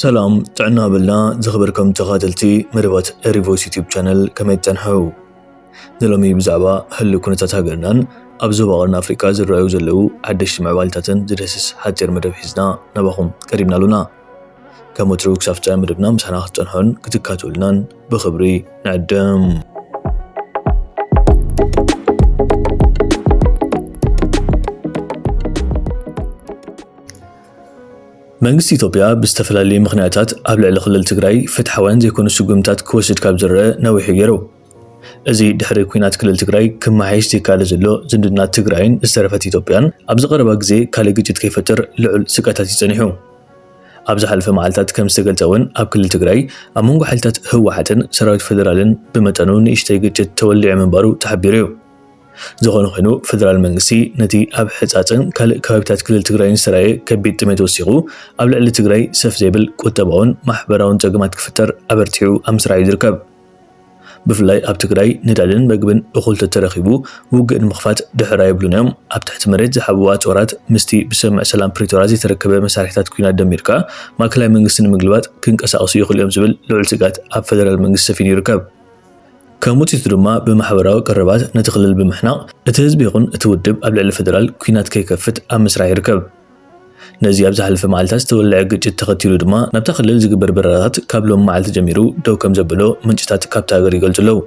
ሰላም ጥዕና በልና ዝኽበርኩም ተኻተልቲ መደባት ሪቮይስ ዩቲዩብ ቻነል ከመይ ትጸንሐው ንሎሚ ብዛዕባ ህሉ ኩነታት ሃገርናን ኣብ ዞባ ቀርኒ ኣፍሪቃ ዝረኣዩ ዘለዉ ሓደሽቲ ምዕባልታትን ዝደስስ ሓጺር መደብ ሒዝና ናባኹም ቀሪብና ኣሉና ከም ወትሩ ክሳብ ፍጻሜ መደብና ምሳና ክትጸንሑን ክትካትሉናን ብኽብሪ ንዕድም መንግስቲ ኢትዮጵያ ብዝተፈላለዩ ምኽንያታት ኣብ ልዕሊ ክልል ትግራይ ፍትሓውያን ዘይኮኑ ስጉምትታት ክወስድ ካብ ዝረአ ነዊሑ ገይሩ። እዚ ድሕሪ ኲናት ክልል ትግራይ ክመሓየሽ ዘይከኣለ ዘሎ ዝምድና ትግራይን ዝተረፈት ኢትዮጵያን ኣብዚ ቀረባ ግዜ ካልእ ግጭት ከይፈጥር ልዑል ስግኣታት እዩ ጸኒሑ። ኣብ ዝሓለፈ መዓልታት ከም ዝተገልጸ እውን ኣብ ክልል ትግራይ ኣብ መንጎ ሓይልታት ህወሓትን ሰራዊት ፌደራልን ብመጠኑ ንእሽተይ ግጭት ተወሊዑ ምንባሩ ተሓቢሩ እዩ። ዝኾነ ኾይኑ ፌደራል መንግስቲ ነቲ ኣብ ሕፃፅን ካልእ ከባቢታት ክልል ትግራይን ዝተራእየ ከቢድ ጥሜት ወሲኹ ኣብ ልዕሊ ትግራይ ሰፍ ዘይብል ቁጠባውን ማሕበራውን ፀገማት ክፍጠር ኣበርቲዑ ኣብ ምስራሕ እዩ ዝርከብ። ብፍላይ ኣብ ትግራይ ነዳድን መግብን እኹል ተተረኺቡ ውግእ ንምኽፋት ድሕር ኣይብሉን እዮም። ኣብ ትሕቲ መሬት ዝሓብኡ ኣፅዋራት ምስቲ ብስምምዕ ሰላም ፕሪቶርያ ዘይተረከበ መሳርሒታት ኲናት ደሚርካ ማእከላይ መንግስቲ ንምግልባጥ ክንቀሳቐሱ ይኽእሉ እዮም ዝብል ልዑል ስግኣት ኣብ ፌደራል መንግስቲ ሰፊኑ ይርከብ። ከም ውፅኢቱ ድማ ብማሕበራዊ ቀረባት ነቲ ክልል ብምሕናቕ እቲ ህዝቢ ይኹን እቲ ውድብ ኣብ ልዕሊ ፌደራል ኲናት ከይከፍት ኣብ ምስራሕ ይርከብ። ነዚ ኣብ ዝሓለፈ መዓልታት ዝተወለዐ ግጭት ተኸቲሉ ድማ ናብታ ክልል ዝግበር በረራታት ካብ ሎሚ መዓልቲ ጀሚሩ ደው ከምዘበሎ ምንጭታት ካብታ ሃገር ይገልፁ ኣለው።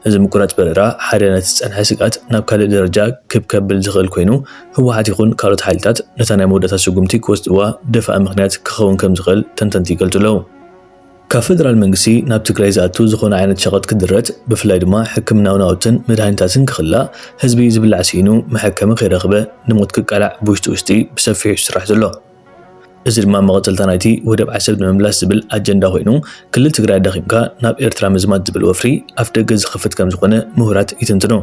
እዚ ምቁራፅ በረራ ሓደ ነቲ ዝፀንሐ ስግኣት ናብ ካልእ ደረጃ ክብ ከብል ዝኽእል ኮይኑ ህወሓት ይኹን ካልኦት ሓይልታት ነታ ናይ መወዳእታ ስጉምቲ ክወስድዋ ደፋኢ ምኽንያት ክኸውን ከምዝኽእል ተንተንቲ ይገልፁ ኣለው። ካብ ፈደራል መንግስቲ ናብ ትግራይ ዝኣቱ ዝኾነ ዓይነት ሸቐጥ ክድረት፣ ብፍላይ ድማ ሕክምናዊ ናውትን መድሃኒታትን ክኽላእ፣ ህዝቢ ዝብላዕ ስኢኑ መሐከሚ ከይረኽበ ንሞት ክቃላዕ ብውሽጢ ውሽጢ ብሰፊሑ እዩ ዝስራሕ ዘሎ። እዚ ድማ መቐጸልታ ናይቲ ወደብ ዓሰብ ንምምላስ ዝብል ኣጀንዳ ኮይኑ፣ ክልል ትግራይ ኣዳኺምካ ናብ ኤርትራ ምዝማት ዝብል ወፍሪ ኣፍደገ ዝኸፍት ከምዝኾነ ምሁራት ይትንትኑ።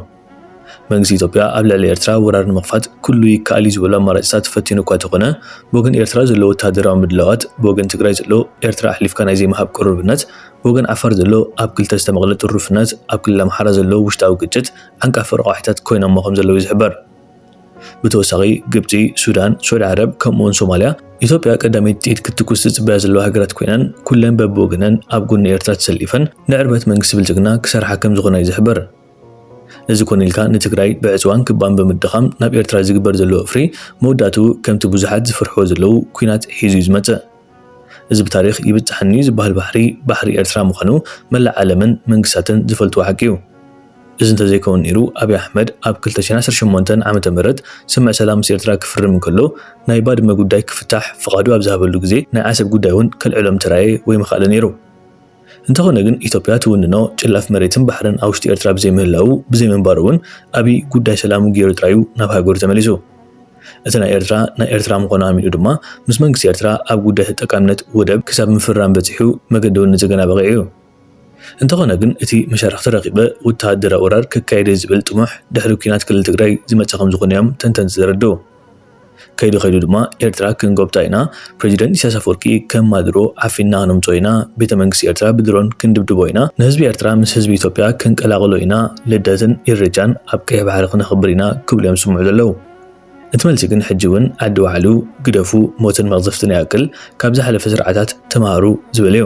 መንግስቲ ኢትዮጵያ ኣብ ልዕሊ ኤርትራ ወራር ንምኽፋት ኩሉ ይከኣል እዩ ዝበሎ ኣማራጭታት ፈቲኑ እኳ ተኾነ ብወገን ኤርትራ ዘሎ ወተሃደራዊ ምድላዋት ብወገን ትግራይ ዘሎ ኤርትራ ኣሕሊፍካ ናይ ዘይምሃብ ቅሩብነት ብወገን ዓፋር ዘሎ ኣብ ክልተ ዝተመቕለ ጥሩፍነት ኣብ ክልል ኣምሓራ ዘሎ ውሽጣዊ ግጭት ዓንቃፊ ረቋሒታት ኮይኖሞ ከምዘለዉ እዩ ዝሕበር። ብተወሳኺ ግብጺ፣ ሱዳን፣ ስዑዲ ዓረብ ከምኡ'ውን ሶማልያ ኢትዮጵያ ቀዳመይቲ ጥይት ክትትኩስ ዝጽበያ ዘለዋ ሃገራት ኮይነን ኩለን በብወገነን ኣብ ጎኒ ኤርትራ ተሰሊፈን ንዕርበት መንግስቲ ብልጽግና ክሰርሓ ከምዝኾና እዩ ዝሕበር። እዚ ኮነ ኢልካ ንትግራይ ብዕፅዋን ክባን ብምድኻም ናብ ኤርትራ ዝግበር ዘሎ ወፍሪ መወዳእትኡ ከምቲ ብዙሓት ዝፍርሕዎ ዘለዉ ኲናት ሒዙ እዩ ዝመፅእ። እዚ ብታሪኽ ይብፃሓኒ እዩ ዝበሃል ባሕሪ፣ ባሕሪ ኤርትራ ምዃኑ መላእ ዓለምን መንግስታትን ዝፈልጥዎ ሓቂ እዩ። እዚ እንተዘይከውን ነይሩ ኣብይ ኣሕመድ ኣብ ክልተ ሽሕን ዓሰርተ ሸሞንተን ዓመተ ምህረት ስምምዕ ሰላም ምስ ኤርትራ ክፍርም እንከሎ ናይ ባድመ ጉዳይ ክፍታሕ ፍቓዱ ኣብ ዝሃበሉ ግዜ ናይ ዓሰብ ጉዳይ እውን ከልዕሎ ምተራእየ ወይ ምኸኣለ ነይሩ። እንተኾነ ግን ኢትዮጵያ ትውንኖ ጭላፍ መሬትን ባሕርን ኣብ ውሽጢ ኤርትራ ብዘይ ምህላዉ ብዘይ ምንባሩ ውን ኣብይ ጉዳይ ሰላሙ ጌሩ ጥራዩ ናብ ሃገሩ ተመሊሱ። እቲ ናይ ኤርትራ ናይ ኤርትራ ምኾኑ ኣሚኑ ድማ ምስ መንግስቲ ኤርትራ ኣብ ጉዳይ ተጠቃምነት ወደብ ክሳብ ምፍራም በጺሑ መገዲ ውን ንጽገና በቒዑዩ። እንተኾነ ግን እቲ መሻርኽቲ ረኺበ ውተሃደራዊ ወራር ከካይድየ ዝብል ጥሙሕ ድሕሪ ኩናት ክልል ትግራይ ዝመጸ ከምዝኾነዮም ተንተንቲ ዘረድኡ። ከይዱ ከይዱ ድማ ኤርትራ ክንጎብጣ ኢና፣ ፕረዚደንት ኢሳያስ ኣፈወርቂ ከም ማዱሮ ዓፊንና ክነምጽኦ ኢና፣ ቤተ መንግስቲ ኤርትራ ብድሮን ክንድብድቦ ኢና፣ ንህዝቢ ኤርትራ ምስ ህዝቢ ኢትዮጵያ ክንቀላቕሎ ኢና፣ ልደትን ኢሬቻን ኣብ ቀይሕ ባሕሪ ክነኽብር ኢና ክብሉ እዮም ዝስምዑ ዘለዉ። እቲ መልሲ ግን ሕጂ እውን ዓዲ ወዓሉ ግደፉ ሞትን መቕዘፍትን ይኣክል ካብ ዝሓለፈ ስርዓታት ተማሃሩ ዝበል'ዩ።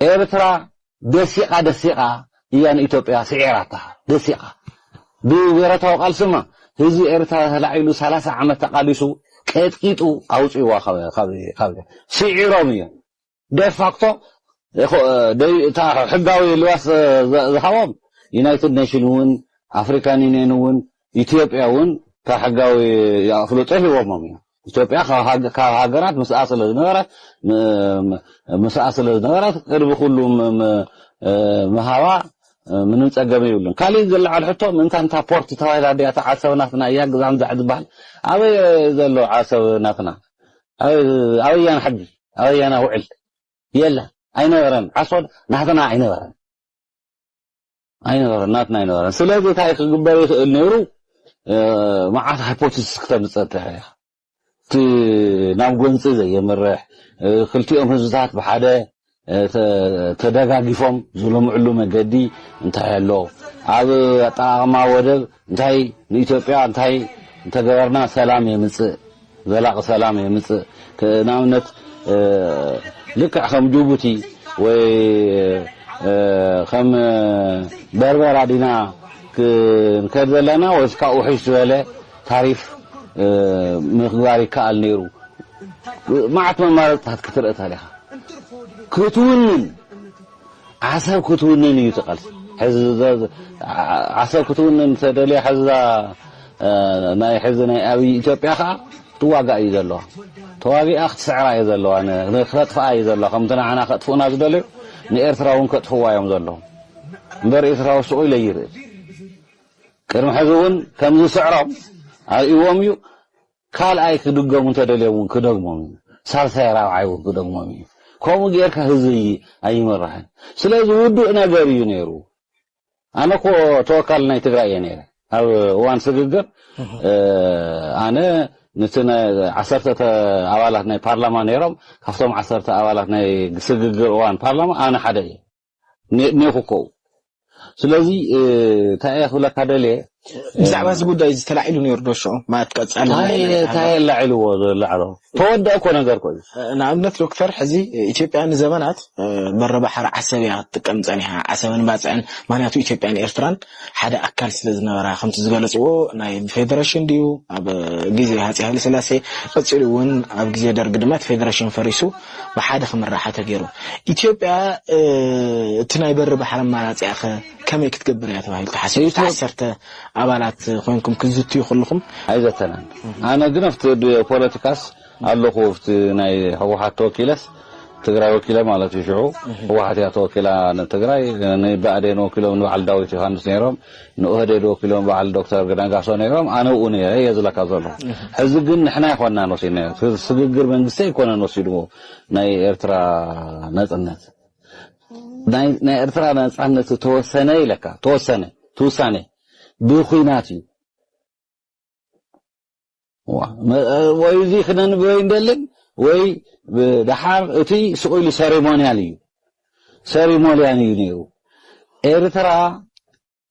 ኤርትራ ደሲቃ ደሲቃ ኢያ ንኢትዮጵያ ስዒራታ ደሲቃ ብብረታዊ ቃልሲ እማ ህዝቢ ኤርትራ ተላዒሉ ሰላሳ ዓመት ተቃሊሱ ቀጥቂጡ ኣውጺዋ ካብ ስዒሮም ኢዮም ደፋክቶ ሕጋዊ ልባስ ዝሃቦም ዩናይትድ ኔሽን እውን ኣፍሪካን ዩኒየን እውን ኢትዮጵያ እውን ካብ ሕጋዊ ኣፍልጦ ሂቦሞም ኢዮም ኢትዮጵያ ካብ ሃገራት ምስኣ ስለ ዝነበረት ምስኣ ስለ ዝነበረት ቅድሚ ኩሉ ምሃባ ምንም ጸገም ይብሉን ካልእ ዝለዓል ሕቶ ምእንታን እታ ፖርት ተባሂላ ድያ እታ ዓሰብ ናትና እያ ግዛም ዛዕ ዝበሃል ኣበይ ዘሎ ዓሰብ ናትና ኣበያና ሕጊ ኣበያና ውዕል የለን ኣይነበረን ዓሶ ናትና ኣይነበረን ኣይነበረን ናትና ኣይነበረን ስለዚ እንታይ ክግበር ይኽእል ነይሩ መዓት ሃይፖቴሲስ ክተምፅእ ትኽእል ኢኻ እቲ ናብ ጎንፂ ዘየምርሕ ክልቲኦም ህዝብታት ብሓደ ተደጋጊፎም ዝለምዕሉ መገዲ እንታይ ኣሎ ኣብ ኣጠቃቅማ ወደብ እንታይ ንኢትዮጵያ እንታይ እንተገበርና ሰላም የምጽእ ዘላቂ ሰላም የምጽእ ንኣብነት ልክዕ ከም ጅቡቲ ወይ ከም በርበራ ዲና ክንከድ ዘለና ወይስ ካብ ውሕሽ ዝበለ ታሪፍ ምክባር ይከኣል ነይሩ መዓት መማረፅታት ክትርኢ ተሪኻ ክትውንን ዓሰብ ክትውንን እዩ እቲ ቃልሲ ሕዚ ዓሰብ ክትውንን ተደልያ ሕዚ እዛ ናይ ሕዚ ናይ ኣብይ ኢትዮጵያ ከዓ ትዋጋእ እዩ ዘለዋ ተዋጊኣ ክትስዕራ እዩ ዘለዋ ክተጥፍኣ እዩ ዘለዋ ከምቲ ንዓና ከጥፍኡና ዝደለዩ ንኤርትራ እውን ከጥፍዋ እዮም ዘለዉ እምበር ኤርትራዊ ስቑ ኢለ ይርኢ ቅድሚ ሕዚ እውን ከምዝስዕሮም ኣርእዎም እዩ ካልኣይ ክድገሙ እንተደልዮም ውን ክደግሞም እዩ ሳልሳይ ራብዓይ ውን ክደግሞም እዩ ከምኡ ጌርካ ህዝቢ ኣይምራሕን ስለዚ ውዱእ ነገር እዩ ነይሩ ኣነ እኮ ተወካሊ ናይ ትግራይ እየ ነይረ ኣብ እዋን ስግግር ኣነ ንቲ ዓሰርተ ኣባላት ናይ ፓርላማ ነይሮም ካብቶም ዓሰርተ ኣባላት ናይ ስግግር እዋን ፓርላማ ኣነ ሓደ እየ ኔኹ ኮው ስለዚ እንታይ እየ ክብለካ ደልየ ብዛዕባ እዚ ጉዳይ እዚ ተላዒሉ ነይሩ ዶ ሽዑ ማለት ቀጻሊ እንታይ ኣላዒልዎ ዘላዕሎ ተወደአ እኮ ነገር እኮ እዩ ንኣብነት ዶክተር ሕዚ ኢትዮጵያ ንዘበናት በረ ባሕሪ ዓሰብ እያ ክትጥቀም ጸኒሓ ዓሰብን ባጽዕን ምክንያቱ ኢትዮጵያን ኤርትራን ሓደ ኣካል ስለ ዝነበራ ከምቲ ዝገለጽዎ ናይ ፌደሬሽን ድዩ ኣብ ግዜ ሃጺ ሃይለ ስላሴ ቀጺሉ እውን ኣብ ግዜ ደርጊ ድማ እቲ ፌደሬሽን ፈሪሱ ብሓደ ክምራሓ ተገይሩ። ኢትዮጵያ እቲ ናይ በሪ ባሕሪ ኣማራጺኣ ከ ከመይ ክትገብር እያ ተባሂሉ ተሓሲቡ? እቲ ዓሰርተ ኣባላት ኮይንኩም ክትዝትዩ ከለኹም ኣይዘተናን። ኣነ ግን ኣብቲ ፖለቲካስ ኣለኹ ኣብቲ ናይ ህወሓት ተወኪለስ ትግራይ ወኪለ ማለት እዩ ሽዑ ህወሓት እያ ተወኪላ ንትግራይ ንብኣዴን ወኪሎም ንበዓል ዳዊት ዮሃንስ ነይሮም ንኦህዴድ ወኪሎም በዓል ዶክተር ነጋሶ ነይሮም፣ ኣነ ኣብኡ ነይረ እየ ዝብለካ ዘለኹ። ሕዚ ግን ንሕና ኣይኮናን ወሲድናዮ፣ እቲ ስግግር መንግስቲ ኣይኮነን ወሲድዎ ናይ ኤርትራ ናጽነት። ናይ ናይ ኤርትራ ናጻነት ዝተወሰነ ኢለካ ተወሰነ እቲ ውሳኔ ብኹናት እዩ። ወይ እዚ ክነንብበ ይንደልን ወይ ደሓር እቲ ስቕ ኢሉ ሰሪሞንያል እዩ ሰሪሞልያን እዩ ነይሩ ኤርትራ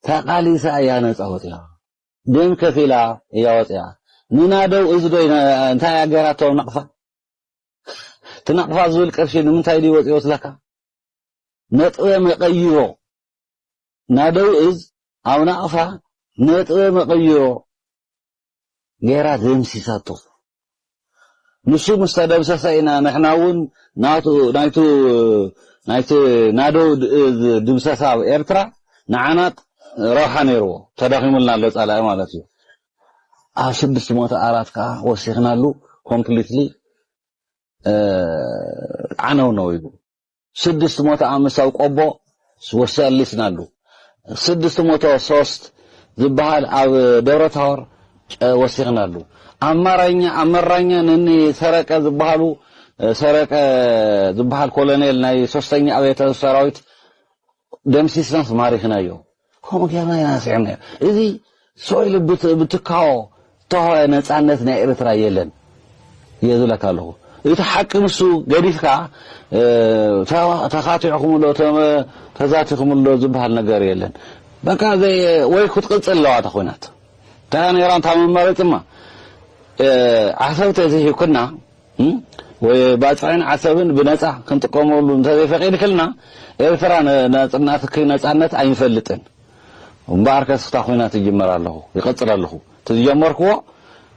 ተቓሊሳ እያ ነፃ ወፅያ ደም ከፊላ እያ ወፅያ ንናደው እዚ ዶ እንታይ እያ ገይራቶ ናቕፋ እቲ ናቕፋ ዝብል ቅርሺ ንምንታይ ድዩ ወፅዮ ስለካ ነጥበ መቐይሮ ናደው እዝ ኣብ ናቕፋ ነጥበ መቐይሮ ጌራ ደምሲሳቶ። ንሱ ምስ ተደምሰሰ ኢና ንሕና እውን ናቱ ናይቲ ናደው ድምሰሳ ኣብ ኤርትራ ንዓና ረብሓ ነይርዎ። ተዳኺሙልና ኣሎ ጸላኢ ማለት እዩ። ኣብ ስድስት ሞተ ኣራት ከኣ ወሲኽናሉ ኮምፕሊትሊ ዓነውነው ኢሉ። ስድስት ሞተ ኣምሳው ቆቦ ወሰሊስ ናሉ ስድስት ሞተ ሶስት ዝበሃል ኣብ ደብረ ታወር ወሲኽ ናሉ ኣማራኛ ኣመራኛ ነኒ ሰረቀ ዝበሃሉ ሰረቀ ዝበሃል ኮሎኔል ናይ ሶስተኛ ኣብየተ ሰራዊት ደምሲስናስ ማሪኽናዮ። ከምኡ ጌርና ኢና ስዒብናዮ እዚ ሶይል ብትካዎ ተሆ ነጻነት ናይ ኤርትራ የለን እየ ዝብለካ ኣለኹ እቲ ሓቂ ንሱ ገዲፍካ ተኻቲዕኩምሎ ተዛቲኹምሎ ዝበሃል ነገር የለን በቃ ወይ ክትቅጽል ኣለዋ እታ ኹናት እንታ ነይራ እንታ መመረጽማ ዓሰብተ እዚ ሂብክና ወይ ባጽዕን ዓሰብን ብነጻ ክንጥቀመሉ እንተዘይፈቂድክልና ኤርትራ ናጽናትኪ ነጻነት ኣይንፈልጥን እምበኣር ከስ ክታ ኮይና ትጅመር ኣለኹ ይቀጽል ኣለኹ እቲ ዝጀመርክዎ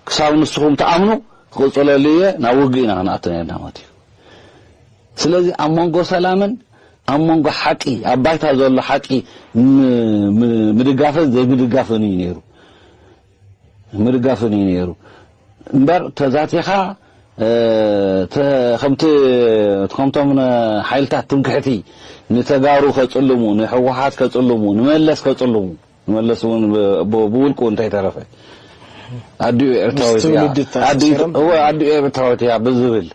ክሳብ ንስኹም ትኣምኑ ክቅጽለሉ እየ ናብ ውግእ ኢና ክንኣቱ ነርና ማለት እዩ ስለዚ ኣብ መንጎ ሰላምን ኣብ መንጎ ሓቂ ኣብ ባይታ ዘሎ ሓቂ ምድጋፍን ዘይምድጋፍን እዩ ነይሩ ምድጋፍን እዩ ነይሩ እምበር ተዛቲኻ ከምቲ ከምቶም ሓይልታት ትምክሕቲ ንተጋሩ ከጽልሙ ንሕወሓት ከጽልሙ ንመለስ ከጽልሙ ንመለስ እውን ብውልቁ እንተይተረፈ ኣዲኡ ኤርትራዊት እያ ብዝብል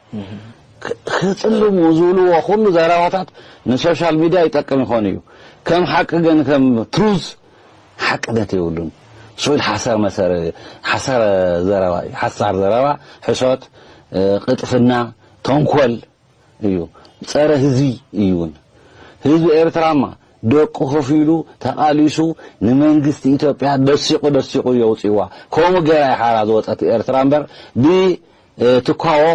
ክጽልሙ ዝብልዎ ኩሉ ዘረባታት ንሶሻል ሚድያ ይጠቅም ይኾን እዩ ከም ሓቂ ግን ከም ትሩዝ ሓቅነት የብሉን ስዑድ ሓሳር መሰረ ሓሳር ዘረባ እዩ ሓሳር ዘረባ ሕሶት ቅጥፍና ተንኮል እዩ ጸረ ህዝቢ እዩውን ህዝቢ ኤርትራማ ደቁ ከፊሉ ተቓሊሱ ንመንግስቲ ኢትዮጵያ ደሲቑ ደሲቑ የውጽዋ ከምኡ ገይራ ሓራ ዝወጸት ኤርትራ እምበር ብ ትኳዎ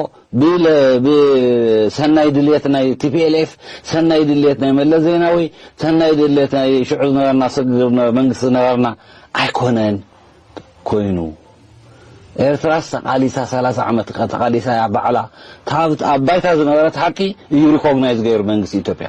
ብሰናይ ድልየት ናይ TPLF ሰናይ ድልየት ናይ መለስ ዜናዊ ሰናይ ድልየት ናይ ሽዑ ዝነበርና ስግግር ዝነበረ መንግስቲ ዝነበርና ኣይኮነን ኮይኑ ኤርትራስ ተቓሊሳ ሰላሳ ዓመት ተቓሊሳ እያ ባዕላ ካብ ኣብ ባይታ ዝነበረት ሓቂ እዩ ሪኮግናይዝ ገይሩ መንግስቲ ኢትዮጵያ